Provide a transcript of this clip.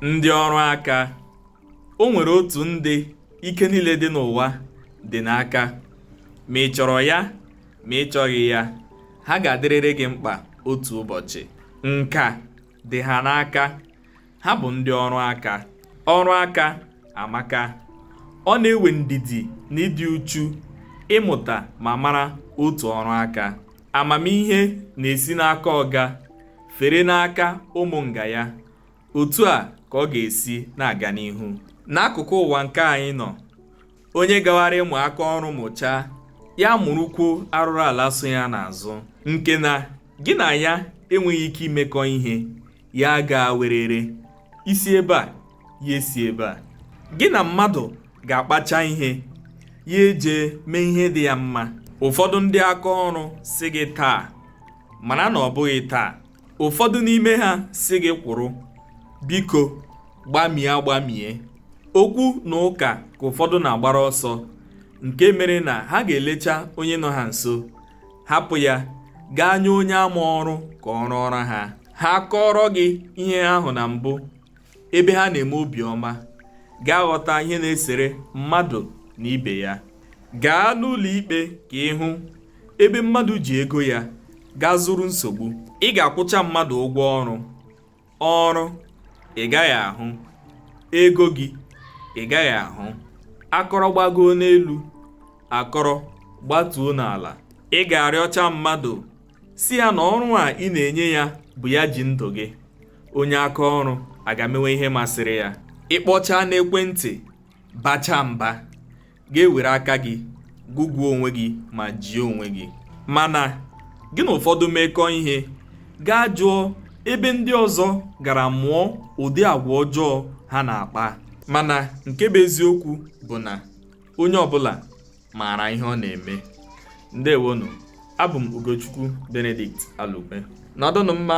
ndị ọrụ aka o nwere otu ndị ike niile dị n'ụwa dị n'aka ma ị chọrọ ya ma ị chọghị ya ha ga-adịrịrị gị mkpa otu ụbọchị nka dị ha n'aka ha bụ ndị ọrụ aka ọrụ aka amaka ọ na-ewe ndidi na ịdị uchu ịmụta ma mara otu ọrụ aka Amamihe na-esi n'aka ọga fere n'aka ụmụ nga ya. Otu a ka ọ ga-esi na-aga n'ihu. N'akụkụ ụwa nke anyị nọ, onye gawara ịmụ aka ọrụ mụchaa, ya mụrụkwuo arụrụ ala so ya n'azụ nke na gị na ya enweghị ike imekọ ihe, ya gaa werere. i si ebe a ya esi ebe a gị na mmadụ ga-akpacha ihe ya eje mee ihe dị ya mma ụfọdụ ndị aka ọrụ sị gị taa mara na ọ bụghị taa ụfọdụ n'ime ha sị gị kwụrụ biko gbamie agbamie okwu na ụka ka ụfọdụ na-agbara ọsọ nke mere na ha ga-elecha onye nọ ha nso hapụ ya gaa nye onye ama ọrụ ka ọ rụọrọ ha ha kọọrọ gị ihe ahụ na mbụ ebe ha na-eme obiọma ga-aghọta ihe na-esere mmadụ na ibe ya gaa n'ụlọ ikpe ka ị hụ ebe mmadụ ji ego ya gaa zụrụ nsogbu ị ga-akwụcha mmadụ ụgwọ ọrụ ọrụ ị gaghị ahụ ego gị ị gaghị ahụ akọrọ gbagoo n'elu akọrọ gbatuo n'ala ị ga-arịọcha mmadụ sị ya na ọrụ a ị na-enye ya bụ ya ji ndụ gị onye aka ọrụ aga mewe ihe masịrị ya ị kpọchaa n'ekwentị bacha mba ga-ewere aka gị gụgụọ onwe gị ma jie onwe gị mana gị na ụfọdụ mekọọ ihe gaa jụọ ebe ndị ọzọ gara mụọ ụdị agwa ọjọọ ha na-akpa mana nke bụ eziokwu bụ na onye ọbụla maara ihe ọ na-eme ndeewonụ abụ m Ugochukwu Benedict Alukwe nọdụnụ mma